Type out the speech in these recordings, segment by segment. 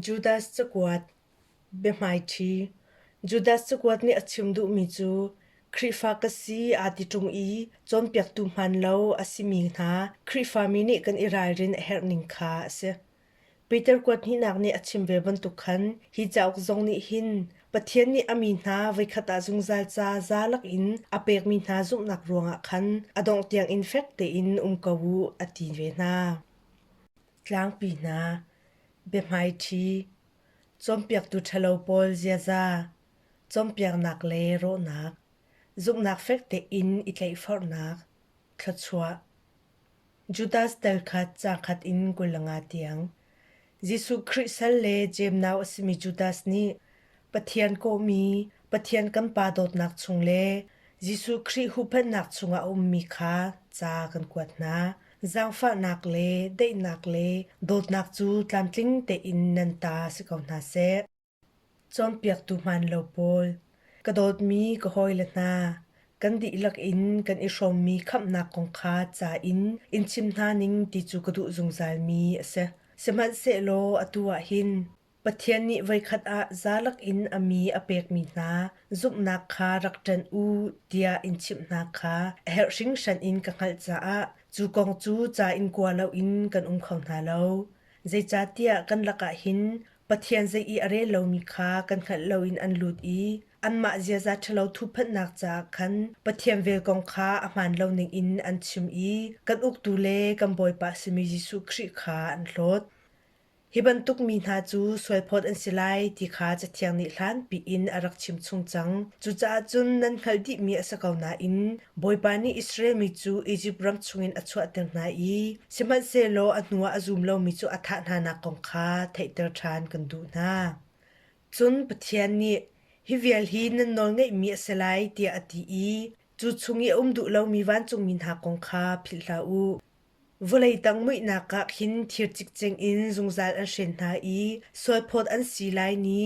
Judas cakuat Biahmaiṭhi Judas cakuat nih a chim duhmi cu Khrihfa ka si aa ti ṭung i cawnpiaktu hmaan lo a simi hna Khrihfami nih kan i ralrin a herh ning kha a si. Peter kuat hnihnak nih a chim ve bantuk khan hi cauk zong nih hin Pathian nih a mi hna voikhat ah zungzal ca za lakin a pekmi hna zumhnak ruangah khan a dongh tiangin fek tein um ko u a ti ve hna. Tlangpi hna, biahmaiṭhi, cawnpiaktu ṭhalo pawl ziaza, cawnpiaknak le rawhnak, zumhnak fek tein i tleihforhnak, thluachuah. Judas tel khat cang khat in kul le nga tiang. Jesuh Khrih sal le cemnau a simi Judas nih Pathian kawhmi, Pathian kan Pa dawtnak chung le Jesuh Khrih huhphenhnak chungah a ummi kha ca kan kuat hna. Zaangfahnak le daihnak le dawtnak cu tlamtling tein nan ta si ko hna seh. Cawnpiaktu hmaan lo pawl, ka dawtmi ka hawile hna, kan dihlak in kan i hrawmmi khamhnak kong kha ca in in chim hna ning ti cu ka duh zungzalmi a si. Sihmanhsehlaw atu ah hin Pathian nih voikhat ah zalak in a mi a pekmi hna zumhnak kha rak ṭan u tiah in chimh hna kha a herh hringhran in ka hngalh caah cu kong cu ca in kua loin kan um kho hna lo. Zeicahtiah kan lakah hin Pathian zei i a rel lomi kha kan hngalh loin an lut i anmah ziaza ṭhalo thuhphanhnak caah khan Pathian vel kong kha a hmaan lo ningin an chim i kan uktu le kan Bawipa simi Jesuh Khrih kha an hlawt. Hi bantuk mi hna cu sualphawt an si lai ti kha Cathiang nih hlanpi in a rak chimchung cang. Cucaah cun nan hngalh dihmi a si ko nain Bawipa nih Israel mi cu Izipt ram chungin a chuahter hna i sihmanhsehlaw a hnuah a zum lomi cu a thah hnanak kong kha theihter ṭhan kan duh hna. Cun Pathian nih hi vial hi nan nawlngeihmi a si lai tiah a ti i cu chung i a um duh lomi vancungmi hna kong kha philh hlah u. Vawlei tang muihnak ah khin thir cikcek in zungzal an hren hna i sualphawt an si lai ni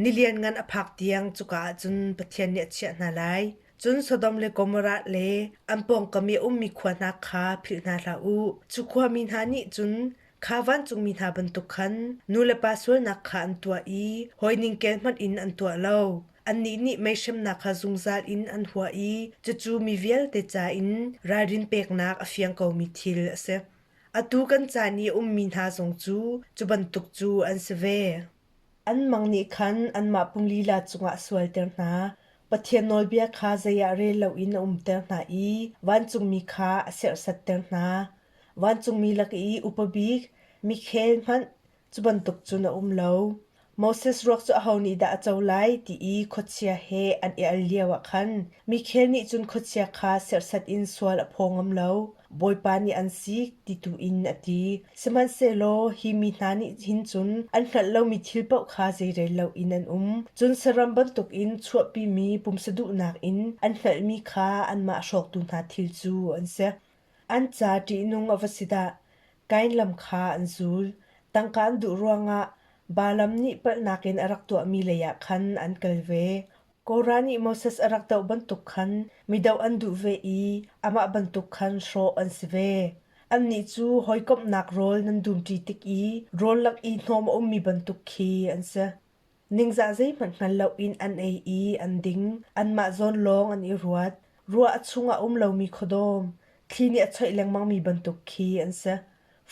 ni lianngan a phak tiang cuka ah cun Pathian nih a chiah hna lai. Cun Sodom le Gomorrah le an pawngkam i a ummi khua hna kha philh hna hlah u. Cu khua mi hna nih cun kha vancungmi hna bantuk khan nulepa sualnak kha an tuah i hawi ningkel hmanh in an tuah lo. Annih nih meihremnak kha zungzal in an hua i cucu mi vialte ca in ralrin peknak a fiang komi thil a si. Atu kan caan i a ummi hna zong cu cu bantuk cu an si ve. An mang nih khan anmah pung lila cungah sualter hna. Pathian nawlbia kha zei ah rel loin a umter hna i vancungmi kha a serhsatter hna. Vancungmi lak i upa bik, mikhel hmanh, Cu bantuk cun a um lo. Moses ruak cu aho nih dah a co lai ti i khuachia he an i al lioah khan Mikhael nih cun khuachia kha serhsat in sual a phaw ngam lo, bawipa nih an sik ti tu in a ti. Sihmanhsehlaw hi mi hna nih hin cun an hngalh lomi thil paoh kha zeirel loin an um. Cun saram bantukin chuahpimi pumsa duhnak in an hngalhmi kha anmah hrawktu hna thil cu an si. An ca ṭihnung a va si dah! Kain lam kha an zul. Tangka an duh ruangah Balaam nih palhnak in a rak tuahmi leiah khan an kal ve. Korah nih Moses a rak doh bantuk khan mi doh an duh ve i amah bantuk khan hrawh an si ve. Annih cu hawikomhnak rawl nan dumṭi tik i rawl lak i hnawm a ummi bantuk khi an si. Ningzah zeihmanh hngal loin an ei i an ding. Anmah zawn lawng an i ruat. Ruah a chung ah a um lomi khuadawm, thli nih a choih lengmangmi bantuk khi an si.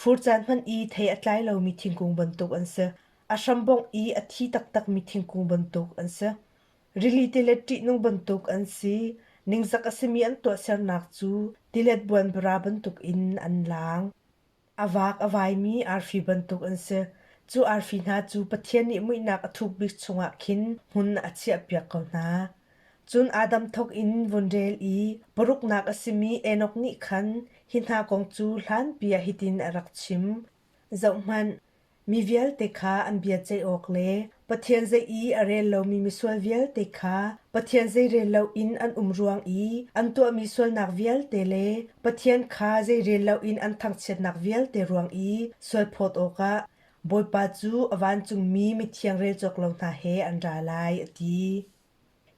Fur caan hmanh i thei a tlai lomi thingkung bantuk an si. A hram bongh i a thi taktakmi thingkung bantuk an si. Rili tilet ṭihnung bantuk an si. Ningzak a simi an tuahsernak cu tilet buanbara bantuk in an laang. A vaak a vaimi arfi bantuk an si. Cu arfi hna cu Pathian nih muihnak a thuk bik chungah khin hmun a chiahpiak ko hna. Cun Adam thawk in vun rel i paruknak a simi Enok nih khan hi hna kong cu hlanpi ah hitin a rak chim: Zohhmanh! Mi vialte kha an bia ceih awk le Pathian zei i a rel lomi misual vialte kha Pathian zei rel loin an um ruang i an tuahmi sualnak vialte le Pathian kha zei rel loin an thangchiatnak vialte ruang i sual phawt awkah Bawipa cu a vancungmi mithiang rel cawk lo hna he an ra lai, a ti.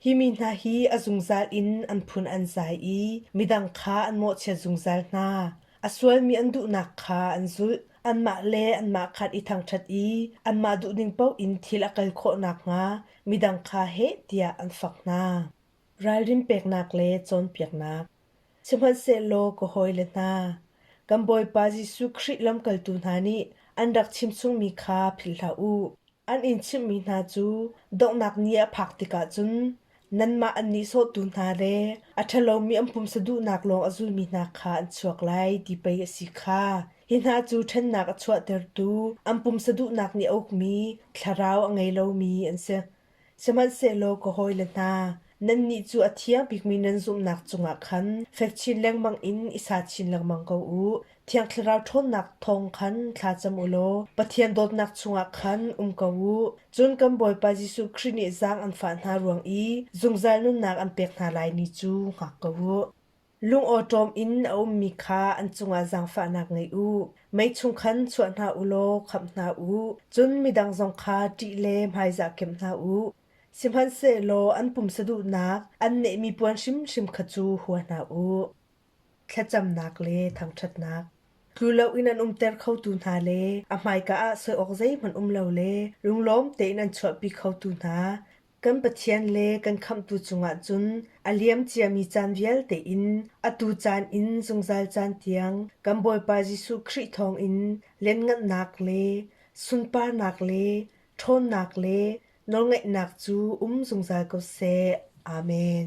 Hi mi hna hi a zungzal in an phun an zai i midang kha an mawhchiat zungzal hna. A sualmi an duhnak kha an zulh. Anmah le anmah khan i thangṭhat i anmah duhning paoh in thil a kal khawh nakhnga midang kha heh tiah an fak hna. Ralrin peknak le cawnpiaknak Sihmanhsehlaw ka hawile hna, kan Bawipa Jesuh Khrih lamkaltu hna nih an rak chimchungmi kha philh hlah u. An in chimhmi hna cu donghnak ni a phak tikah cun nanmah an nihsawhtu hna le a ṭhalomi an pumsa duhnak lawng a zulmi hna kha an chuak lai, ti pei a si kha. Hi hna cu ṭhennak a chuahtertu, an pumsa duhnak nih a ukmi, thlarau a ngei lomi an si. Sihmanhsehlaw ka hawile hna, nannih cu a thiang bikmi nan zumhnak cungah khan fek chin lengmang in i sa chin lengmang ko u. Thiang Thlarau ṭhawnnak thawng khan thla cam u law Pathian dawtnak chungah khan um ko u. Cun kan Bawipa Jesuh Khrih nih zaang an fah hna ruang i zungzal nunnak an pek hna lai ni cu hngak ko u. Lungawṭawm in a ummi kha an cungah zaangfahnak ngei u. Mei chung khan chuah hna u law khamh hna u, cun midang zong kha ṭih le hmaizah kemh hna u. Sihmanhsehlaw an pumsa duhnak, an nehmi puan hrimhrim kha cu hua hna u. Thlacamnak le thangṭhatnak Tlu loin an umter khotu hna le a hmaika ah soi awk zeihmanh um lo le lunglawm tein an chuahpi khotu hna, Kan Pathian le kan Khamhtu cungah cun a liam ciami caan vialte in atu caan in zungzal caan tiang kan Bawipa Jesuh Khrih thawngin lianhngannak le sunparnak le ṭhawnnak le nawlngaihnak cu um zungzal ko seh. Amen.